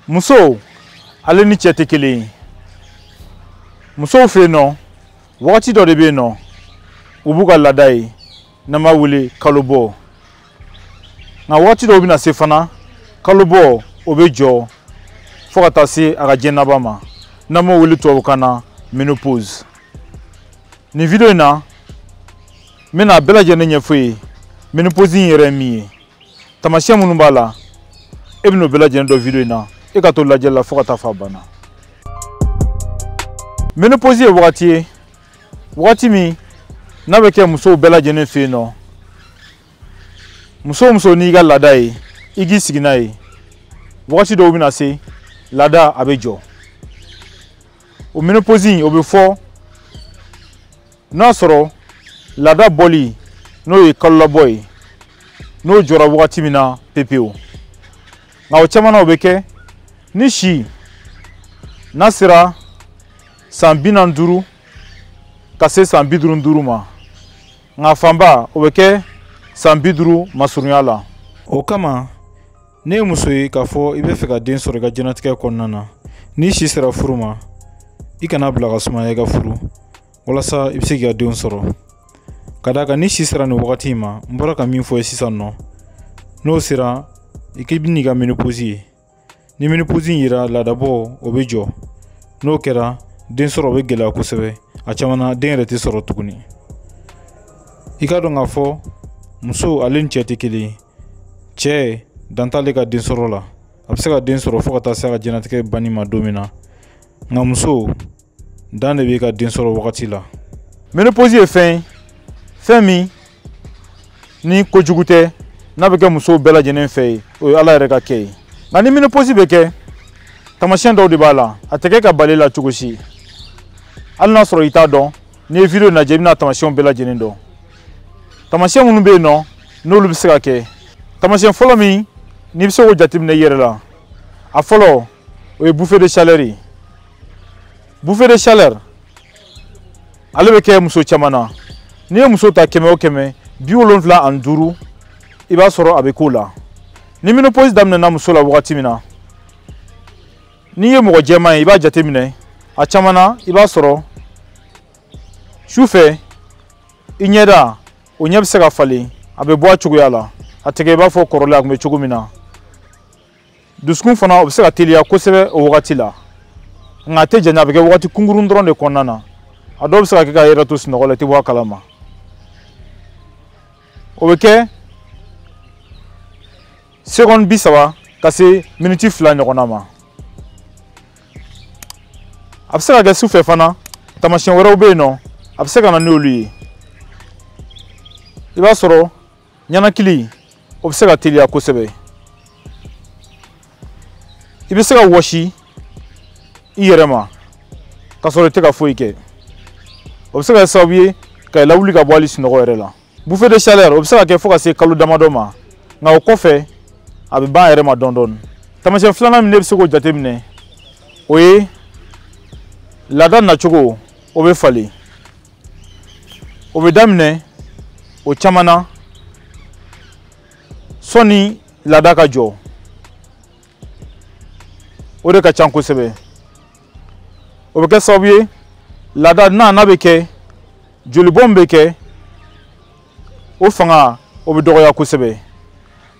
muso ale ni cɛ tɛ kelen ye musow fɛ yen nɔ wagati dɔ de bɛ yen nɔ u b'u ka laada ye n'an b'a wele kalo bɔ nka wagati dɔw bɛna se fana kalo bɔ o bɛ jɔ fo ka taa se a ka diɲɛ laban ma n'an b'o wele tubabukan na menopause nin video in na n bɛna a bɛɛ lajɛlen ɲɛfɔ ye menopause in yɛrɛ ye min ye taamasiyɛn minnu b'a la e bɛn'o bɛɛ lajɛlen dɔn video in na e ka to lajɛli la fo ka taa fo a banna menopause ye wagati ye wagati min n'a bɛ kɛ musow bɛɛ lajɛlen fɛ yen nɔ muso o muso n'i ka laada ye i k'i sigi n'a ye wagati dɔw bɛna se laada a bɛ jɔ o menopause in o bɛ fɔ n'a sɔrɔ laada bɔli n'o ye kalolabɔ ye n'o jɔra wagati min na pepewu nka o caman na o bɛ kɛ ni si n'a sera san bi naani duuru ka se san bi duuru duuru ma nka fanba o bɛ kɛ san bi duuru masurunya la o kama n'e ye muso ye k'a fɔ i bɛ fɛ ka den sɔrɔ i ka jɛnatigɛ kɔnɔna na n'i si sera furu ma i kan'a bila ka sumaya i ka furu walasa i bɛ se k'i ka denw sɔrɔ ka d'a kan ni si sera nin wagati in ma n bɔra ka min fɔ ye sisan nɔ n'o sera i k'i bɛn'i ka menopause ye ni menopause in yera laadabɔ o bɛ jɔ n'o kɛra den sɔrɔ o bɛ gɛlɛya kosɛbɛ a caman na den yɛrɛ tɛ sɔrɔ tuguni i k'a dɔn k'a fɔ muso ale ni cɛ tɛ kelen ye cɛ dan t'ale ka den sɔrɔ la a bɛ se ka den sɔrɔ fo ka taa se a ka jɛnatigɛ banni ma don min na nka muso dan de b'i ka den sɔrɔ wagati la menopause ye fɛn ye fɛn min ni kojugu tɛ n'a bɛ kɛ musow bɛɛ lajɛlen fɛ yen o ye ala yɛrɛ ka kɛ ye nka ni menopause bɛ kɛ taamasiyɛn dɔw de b'a la a tɛ kɛ ka bal'i la cogo si hali n'a sɔrɔ i t'a dɔn n'i ye video lajɛ i bɛna taamasiyɛnw bɛɛ lajɛlen dɔn taamasiyɛn minnu bɛ yen nɔ n'olu bɛ se ka kɛ taamasiyɛn fɔlɔ min n'i bɛ se k'o jateminɛ i yɛrɛ la a fɔlɔ o ye bouffée de chaleur ye bouffée de chaleur ale bɛ kɛ muso caman na n'i ye muso ta kɛmɛ o kɛmɛ bi wolonwula ani duuru i b'a sɔrɔ a bɛ k'o la ni menopause daminɛna muso la wagati min na n'i ye mɔgɔ jɛman ye i b'a jateminɛ a caman na i b'a sɔrɔ su fɛ i ɲɛda o ɲɛ bɛ se ka falen a bɛ bɔ a cogoya la a tɛ kɛ i b'a fɔ kɔrɔlen a tun bɛ cogo min na dusukun fana o bɛ se ka teliya kosɛbɛ o wagati la nka a tɛ janya a bɛ kɛ wagati kunkurun dɔrɔn de kɔnɔna na a dɔw bɛ se ka kɛ k'a yɛrɛ to sunɔgɔ la i tɛ bɔ a kalama o bɛ kɛ seconde bi saba ka se miniti fila ɲɔgɔnna ma a bɛ se ka kɛ su fɛ fana taamasiyɛn wɛrɛw bɛ yen nɔ a bɛ se ka na n'olu ye i b'a sɔrɔ ninakili o bɛ se ka teliya kosɛbɛ i bɛ se ka wɔsi i yɛrɛ ma k'a sɔrɔ i tɛ ka foyi kɛ o bɛ se ka kɛ sababu ye ka i lawuli ka bɔ hali sunɔgɔ yɛrɛ la bouffée de chaleur o bɛ se ka kɛ fo ka se kalo damadɔ ma nka o kɔfɛ a bɛ ban a yɛrɛ ma dɔɔni dɔɔni taamasiyɛn filanan min ne bɛ se k'o jateminɛ o ye laada nacogo o bɛ falen o bɛ daminɛ o caman na sɔni laada ka jɔ o de ka ca kosɛbɛ o bɛ kɛ sababu ye laada n'a n'a bɛ kɛ jolibɔ min bɛ kɛ o fanga o bɛ dɔgɔya kosɛbɛ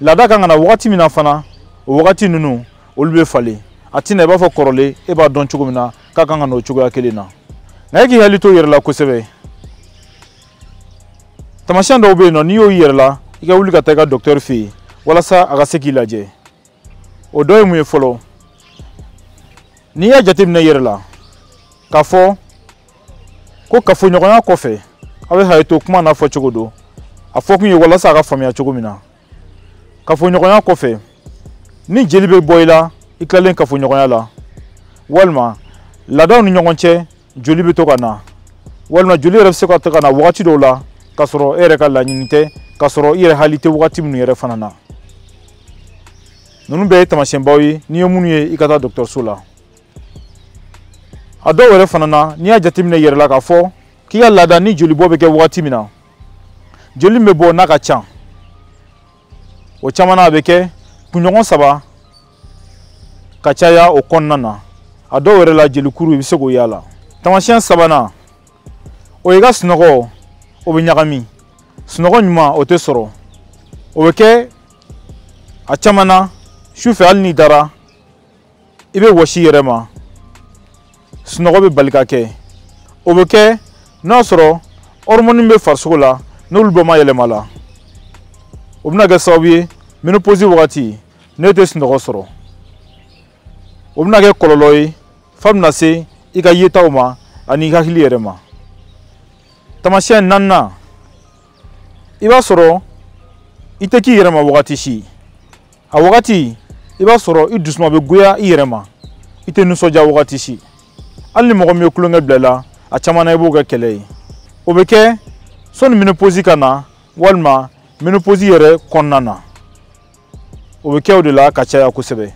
laada ka kan ka na wagati min na fana o wagati ninnu olu bɛ falen a tɛ na i b'a fɔ kɔrɔlen e b'a dɔn cogo min na k'a kan ka na o cogoya kelen na nka e k'i hakili to i yɛrɛ la kosɛbɛ taamasiyɛn dɔw bɛ yen nɔ n'i y'o y'i yɛrɛ la i ka wuli ka taa i ka docteur fɛ yen walasa a ka se k'i lajɛ o dɔ ye mun ye fɔlɔ n'i y'a jateminɛ i yɛrɛ la k'a fɔ ko kafoɲɔgɔnya kɔfɛ aw bɛ hakɛ to kuma n'a fɔ cogo don a fɔ kun ye walasa a ka faamuya cogo min na kafoɲɔgɔnya kɔfɛ ni jeli bɛ bɔ i la i tilalen kafoɲɔgɔnya la walima laadaw ni ɲɔgɔn cɛ joli bɛ to ka na walima joli yɛrɛ bɛ se ka to ka na wagati dɔw la k'a sɔrɔ e yɛrɛ ka laɲini tɛ k'a sɔrɔ i yɛrɛ hakili tɛ wagati minnu yɛrɛ fana na ninnu bɛɛ ye taamasiyɛnbaw ye n'i ye minnu ye i ka taa dɔgɔtɔrɔso la a dɔw yɛrɛ fana na n'i y'a jateminɛ i yɛrɛ la k'a fɔ k'i ka laada ni jolibɔ bɛ kɛ wagati min na joli min bɛ bɔ n'a ka ca o caman na a bɛ kɛ kunɲɔgɔn saba ka caya o kɔnɔna na a dɔw yɛrɛ la jelikuru i bɛ se k'o y'a la taamasiyɛn sabanan o ye i ka sunɔgɔ o bɛ ɲagami sunɔgɔ ɲuman o tɛ sɔrɔ o bɛ kɛ a caman na sufɛ hali n'i dara i bɛ wɔsi i yɛrɛ ma sunɔgɔ bɛ bali ka kɛ o bɛ kɛ n'a sɔrɔ hormone bɛ farisogo la n'olu bɛɛ ma yɛlɛma la o bɛna kɛ sababu ye ménopause wagati n'e tɛ sunɔgɔ sɔrɔ o bɛna kɛ kɔlɔlɔ ye f'a bɛna se i ka yetaw ma ani i hakili yɛrɛ ma taamasiyɛn naaninan i b'a sɔrɔ i tɛ k'i yɛrɛ ma wagati si a wagati i b'a sɔrɔ i dusuma bɛ goya i yɛrɛ ma i tɛ nisɔndiya wagati si hali ni mɔgɔ min ye tulonkɛ bila i la a caman na i b'o kɛ kɛlɛ ye o bɛ kɛ sɔni ménopause ka na walima ménopause yɛrɛ kɔnɔna na o bɛ kɛ o de la ka caya kosɛbɛ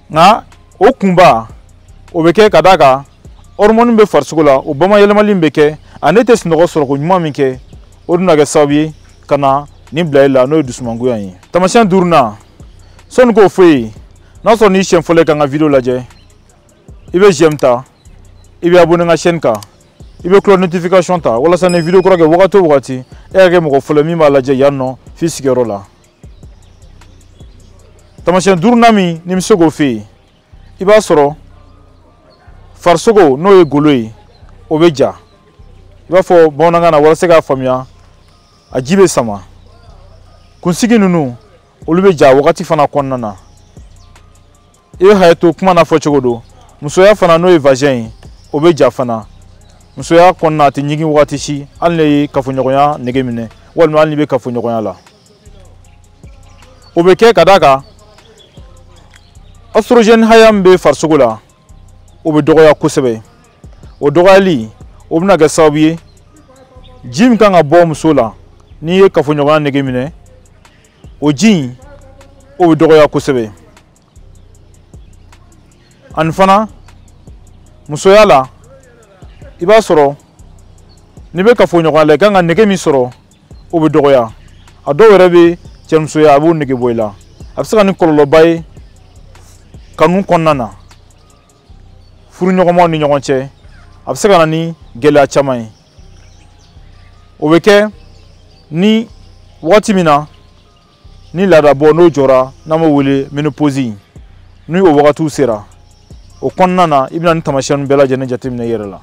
nka o kunba o bɛ kɛ ka d'a kan ɔrimɔni bɛ farisogo la o bamayɛlɛmali min bɛ kɛ an'i tɛ sunɔgɔ sɔrɔ koɲuman min kɛ o dun na kɛ sababu ye ka na nin bila i la n'o ye dusumangoya ye tamasiyɛn duurunan sanni n k'o f'i ye n'a sɔrɔ n'i siɲɛ fɔlɔ ye ka n ka vidéo lajɛ i bɛ j'aime ta i bɛ abonné n ka chaîne kan i bɛ cloche notification ta walasa ni vidéo kura kɛ wagati o wagati i ka kɛ mɔgɔ fɔlɔ ye min b'a lajɛ yan nɔ f'i sigiyɔrɔ la tamasiyɛn duurunan min ne bɛ se k'o f'e ye i b'a sɔrɔ farisogo n'o ye golo ye o bɛ ja i b'a fɔ bamanankan na walasa k'a faamuya a ji bɛ sama kunsigi ninnu olu bɛ ja wagati fana kɔnɔna na i bɛ hakɛ to kuma n'a fɔcogo don musoya fana n'o ye vagin ye o bɛ ja fana musoya kɔnɔna a tɛ ɲigin wagati si hali n'i ye kafoɲɔgɔnya nege minɛ walima hali n'i bɛ kafoɲɔgɔnya la o bɛ kɛ ka d'a kan ostrogɛni hakɛ min bɛ farisogo la o bɛ dɔgɔya kosɛbɛ o dɔgɔyali o bɛna kɛ sababu ye ji min kan ka bɔ muso la n'i ye kafoɲɔgɔnya nege minɛ o ji in o bɛ dɔgɔya kosɛbɛ ani fana musoya la i b'a sɔrɔ n'i bɛ kafoɲɔgɔnya la i kan ka nege min sɔrɔ o bɛ dɔgɔya a dɔw yɛrɛ bɛ cɛmusoya a b'o nege bɔ i la a bɛ se ka na ni kɔlɔlɔba ye kanu kɔnɔna na furuɲɔgɔnmaw ni ɲɔgɔn cɛ a bɛ se ka na ni gɛlɛya caman ye o bɛ kɛ ni wagati min na ni laadabɔ n'o jɔra n'an b'o wele menopozi ni o wagatiw sera o kɔnɔna na i bɛna nin tamasiyɛnw bɛɛ lajɛlen jateminɛ i yɛrɛ la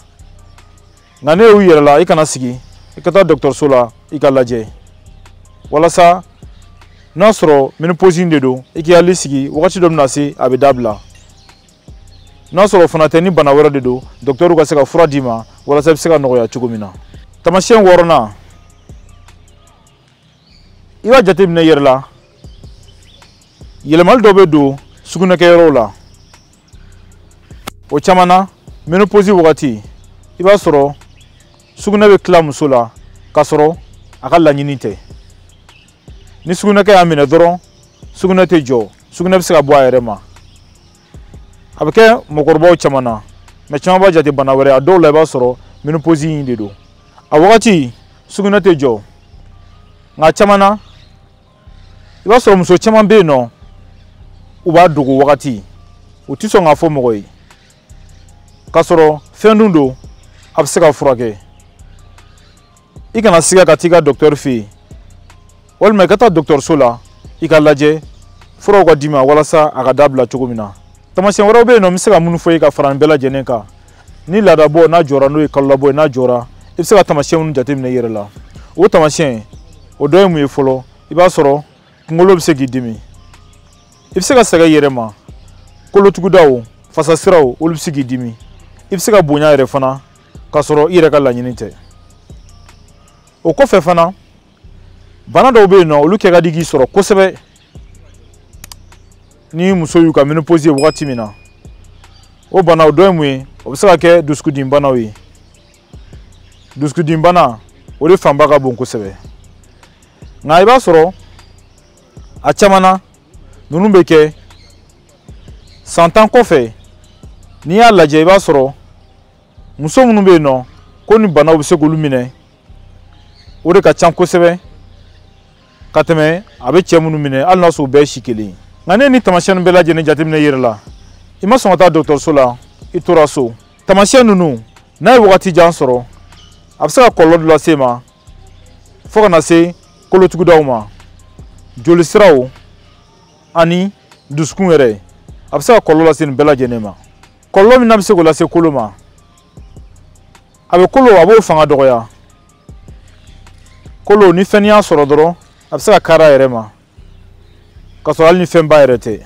nka n'i y'u y'i yɛrɛ la i kana sigi i ka taa dɔgɔtɔrɔso la i ka lajɛ walasa n'a sɔrɔ menopozi de don i k'i hakili sigi wagati dɔ bɛna se a bɛ dabila n'a sɔrɔ o fana tɛ ni bana wɛrɛ de don dɔkitɛriw ka se ka fura d'i ma walasa i bɛ se ka nɔgɔya cogo min na tamasiyɛn wɔɔrɔnan i b'a jateminɛ i yɛrɛ la yɛlɛmali dɔ bɛ don sugunɛkɛyɔrɔw la o caman na menoposi wagati i b'a sɔrɔ sugunɛ bɛ tila muso la k'a sɔrɔ a ka laɲini tɛ ni sugunɛkɛ y'a minɛ dɔrɔn sugunɛ tɛ jɔ sugunɛ bɛ se ka bɔ a yɛrɛ ma a bɛ kɛ mɔgɔkɔrɔbaw caman na maa caman b'a jate bana wɛrɛ a dɔw la i b'a sɔrɔ menoposi in de don a wagati sugunɛ tɛ jɔ nka caman na i b'a sɔrɔ muso caman bɛ yen nɔ u b'a dogo wagati u tɛ sɔn k'a fɔ mɔgɔ ye k'a sɔrɔ fɛn dun don a bɛ se ka furakɛ i kana siga ka t'i ka dɔkitɛri fɛ yen walima i ka taa dɔkitɛriso la i ka lajɛ furaw ka d'i ma walasa a ka dabila cogo min na tamasiyɛn wɛrɛw bɛ yen nɔ n bɛ se ka minnu f'i ye ka fara nin bɛɛ lajɛlen kan ni laadabɔ n'a jɔra n'o ye kalolabɔ ye n'a jɔra i bɛ se ka tamasiyɛn minnu jateminɛ i yɛrɛ la o tamasiyɛnw dɔ ye mun ye fɔlɔ i b'a sɔrɔ kunkolo bɛ se k'i dimi i bɛ se ka sɛgɛn i yɛrɛ ma kolotugudaw fasasiraw olu bɛ se k'i dimi i bɛ se ka bonya yɛrɛ fana k'a sɔrɔ i yɛrɛ ka laɲini tɛ o kɔfɛ fana bana dɔw bɛ yen nɔ olu kɛ ka di k'i sɔrɔ kosɛbɛ ni musow y'u ka menopause ye wagati min na o banaw dɔ ye mun ye o bɛ se ka kɛ dusukundimi banaw ye dusukundimi bana o de fanba ka bon kosɛbɛ nka i b'a sɔrɔ a caman na ninnu bɛ kɛ san tan kɔfɛ n'i y'a lajɛ i b'a sɔrɔ muso minnu bɛ yen nɔ ko nin banaw bɛ se k'olu minɛ o de ka ca kosɛbɛ ka tɛmɛ a bɛ cɛ minnu minɛ hali n'a sɔrɔ u bɛɛ ye si kelen ye nka n'i ye nin tamasiyɛn bɛɛ lajɛlen jateminɛ i yɛrɛ la i ma sɔn ka taa dɔgɔtɔrɔso la i tora so tamasiyɛn ninnu n'a ye wagati jan sɔrɔ a bɛ se ka kɔlɔlɔ dɔ lase i ma fo ka na se kolotugudaw ma jolisiraw ani dusukun yɛrɛ a bɛ se ka kɔlɔlɔ lase nin bɛɛ lajɛlen ma kɔlɔlɔ min n'a bɛ se k'o lase kolo ma a bɛ kolo a b'o fanga dɔgɔya kolo ni fɛn y'a sɔrɔ dɔrɔn a bɛ se ka kari a yɛrɛ ma k'a sɔrɔ hali ni fɛnba yɛrɛ tɛ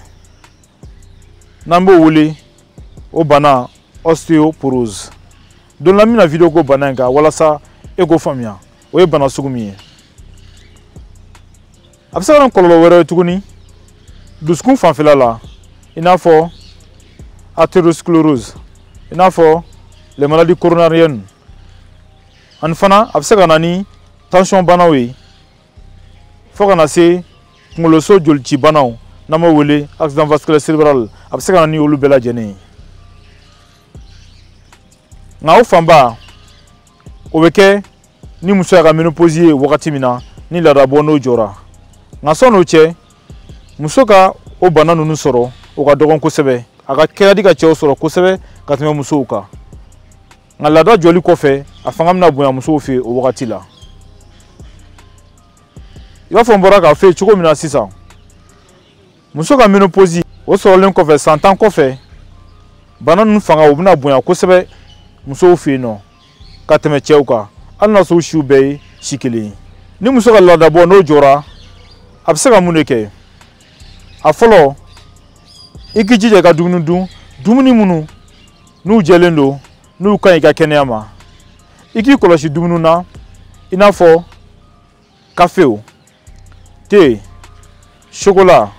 n'an b'o wele o bana osteoporose don la n bɛna video k'o bana in kan walasa e k'o faamuya o ye bana sugu min ye a bɛ se ka na kɔlɔlɔ wɛrɛ ye tuguni dusukun fanfɛla la i n'a fɔ atherosclerose i n'a fɔ les maladies coronariennes ani fana a bɛ se ka na ni tansiyɔn banaw ye fo ka na se kunkoloso jolici banaw n'an b'o wele accident vasculaire cérébral a bɛ se ka na ni olu bɛɛ lajɛlen ye nka o fanba o bɛ kɛ ni muso y'a ka menopause ye wagati min na ni laadabɔ n'o jɔra nka sann'o cɛ muso ka o bana ninnu sɔrɔ o ka dɔgɔn kosɛbɛ a ka kɛ ka di ka cɛw sɔrɔ kosɛbɛ ka tɛmɛ musow kan nka laada jɔli kɔfɛ a fanga bɛna bonya musow fɛ o wagati la i b'a fɔ n bɔra k'a f'i ye cogo min na sisan muso ka menoposi o sɔrɔlen kɔfɛ san tan kɔfɛ bana ninnu fanga o bɛna bonya kosɛbɛ musow fɛ yen nɔ ka tɛmɛ cɛw kan hali n'a sɔrɔ u siw bɛɛ ye si kelen ye ni muso ka laadabɔ n'o jɔra a bɛ se ka mun de kɛ a fɔlɔ i k'i jija i ka dumuni dun dumuni minnu n'u jɛlen don n'u ka ɲi i ka kɛnɛya ma i k'i kɔlɔsi dumuni na i n'a fɔ kafew te sokola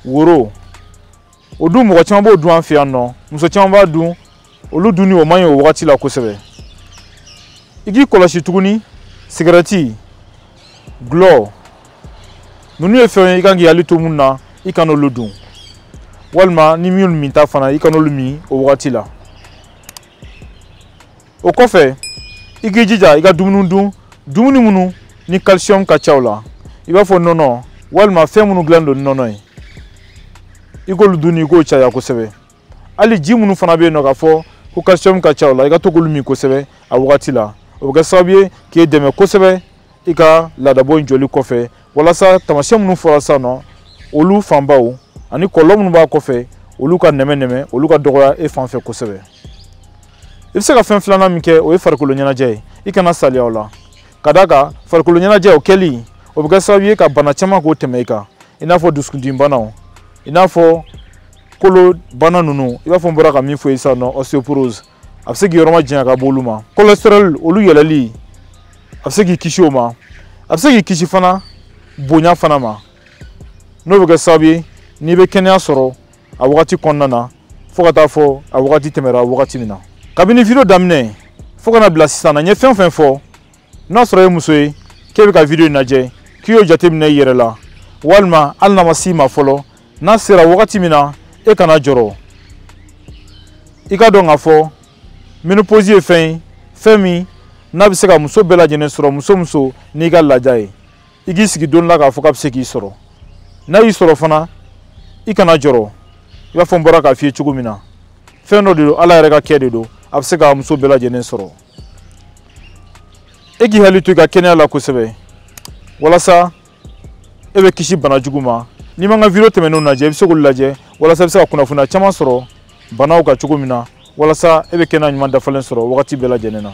woro o dun mɔgɔ caman b'o dun an fɛ yan nɔ muso caman b'a dun olu dunni o man ɲi o wagati la kosɛbɛ i k'i kɔlɔsi tuguni sigɛrɛti gulɔ ninnu ye fɛnw ye i kan k'i hakili to minnu na i kana olu dun walima ni minnu minta fana i kana olu min o wagati la o kɔfɛ i k'i jija i ka dumuni dun dumuni minnu ni calcium ka ca u la i b'a fɔ nɔnɔ walima fɛn minnu dilan don ni nɔnɔ ye i k'olu dun i k'o caya kosɛbɛ hali ji minnu fana bɛ yen nɔ k'a fɔ ko calcium ka ca u la i ka to k'olu min kosɛbɛ a wagati la o bɛ kɛ sababu ye k'e dɛmɛ kosɛbɛ i ka laadabɔ in jɔli kɔfɛ walasa taamasiyɛn minnu fɔra sisan nɔ olu fanbaw ani kɔlɔlɔ minnu b'a kɔfɛ olu ka nɛmɛnɛmɛ olu ka dɔgɔya e fan fɛ kosɛbɛ i bɛ se ka fɛn filanan min kɛ o ye farikolo ɲɛnajɛ ye i kana saliya o la ka d'a kan farikolo ɲɛnajɛ o kɛli o bɛ kɛ sababu ye ka bana caman k'o tɛmɛ i kan i n'a fɔ dusukundimibanaw i n'a fɔ kolo bana ninnu i b'a fɔ n bɔra ka min fɔ i sisan nɔ osteoporose a bɛ se k'i yɔrɔ majanya ka bɔ olu ma cholesterol olu yɛlɛli a bɛ se k'i kisi o ma a bɛ se k'i kisi fana bonya fana ma n'o bɛ kɛ sababu ye n'i bɛ kɛnɛya sɔrɔ a wagati kɔnɔna na fo ka taa fo a wagati tɛmɛra wagati min na kabini video daminɛ fo ka na bila sisan na n ye fɛn o fɛn fɔ n'a sɔrɔ e ye muso ye k'e bɛ ka video in lajɛ k'i y'o jateminɛ i yɛrɛ la walima hali n'a ma s'i ma fɔlɔ n'a sera wagati min na e kana jɔrɔ i k'a dɔn k'a fɔ menopause ye fɛn ye fɛn min n'a bɛ se ka muso bɛɛ lajɛlen sɔrɔ muso o muso n'i ka laada ye i k'i sigi don la k'a fɔ k'a bɛ se k'i sɔrɔ n'a y'i sɔrɔ fana i kana jɔrɔ i b'a fɔ n bɔra k'a f'i ye cogo min na fɛn dɔ de don ala yɛrɛ ka kɛ de don a bɛ se ka muso bɛɛ lajɛlen sɔrɔ e k'i hakili to i ka kɛnɛya la kosɛbɛ walasa e bɛ kisi bana jugu ma n'i ma n ka video tɛmɛnenw lajɛ i bɛ se k'olu lajɛ walasa i bɛ se ka kunnafoniya caman sɔrɔ banaw kan cogo min na walasa e bɛ kɛnɛya ɲuman dafalen sɔrɔ wagati bɛɛ lajɛlen na